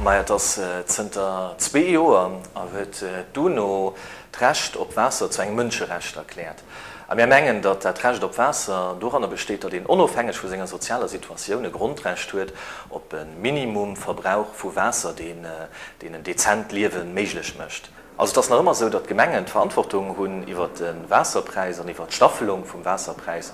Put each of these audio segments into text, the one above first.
Maja, et ass zënter zwee Joer a huet d'UNO d'Recht op Waasser zu engem Mënscherecht erkläert. A mir mengen, datt dat Recht op Waasser doranner besteet, datt een onofhängeg vu senger sozialer Situatioun e Grondrecht huet op e Minimumverbrauch vu Waasser, deen een dezent Liewe méiglech mécht. Also et ass nach ëmmer esou, datt d'Gemengen d'Verantwortung hunn iwwert de Waasserpräis an iwwert d'Staffelung vum Waasserpräis.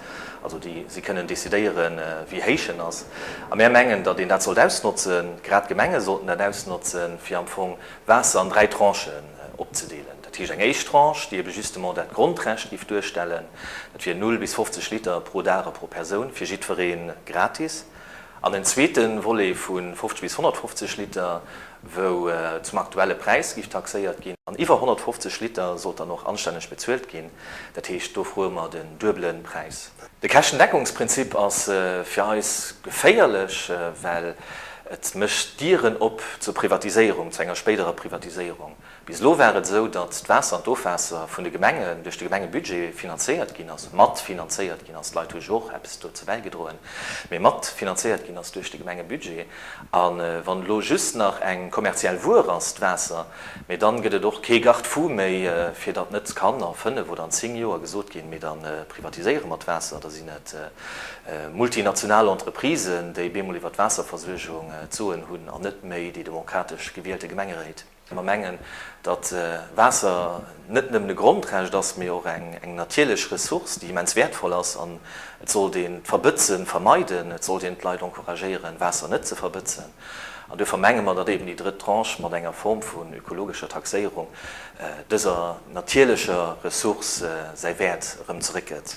Also déi, si kënnen decidéieren, wéi héich en ass. A mär mengen, datt een dat sollt ausnotzen, grad d'Gemenge sollten dat ausnotzen, fir am Fong Waasser an dräi Tranchen opzedeelen. Dat heescht, eng éischt Tranche, déi ebe justement dat Grondrecht giff duerstellen, dat wier null bis 50 Liter pro Dag a pro Persoun, fir jiddweree gratis. An en zweete Volet vu 50 bis 150 Liter, wou zum aktuelle Präis géif taxéiert ginn. An iwwer 150 Liter sollt dann och anstänneg bezuelt ginn. Dat heescht, do froe mer den duebelen Präis. De Käschtendeckungsprinzip ass fir eis geféierlech, well et mécht Dieren op zur Privatiséierung, zu enger spéiderer Privatiséierung. Bis elo war et esou, datt d'Waasser an d'Ofwaasser vun de Gemengen duerch de Gemengebudget finanzéiert ginn ass, mat finanzéiert ginn ass, d'Leit hu jo och eppes dozou bäigedroen, mee mat finanzéiert ginn ass duerch de Gemengebudget. A wann elo just nach eng kommerziell Wuer ass d'Waasser, mee dann gëtt et och kee Garde-fou méi, fir datt net kann a fënnef oder an zéng Joer gesot ginn, mee dann privatiséiere mer d'Waasser, da sinn et multinational Entreprisen, déi bemol iwwer d'Waasserversuergung d'Soen hunn, an net méi déi demokratesch gewielte Gemengeréit. Mer mengen, datt Waasser net nëmmen e Grondrecht ass, mee och eng natierlech Ressource, déi immens wäertvoll ass. An et sollt een d'Verbëtze vermeiden, et sollt een d'Leit encouragéieren, Waasser net ze verbëtzen. An duerfir menge mer, datt eeben déi drëtt Tranche mat enger Form vun ökologescher Taxéierung dëser natierlecher Ressource säi Wäert erëm zeréckgëtt.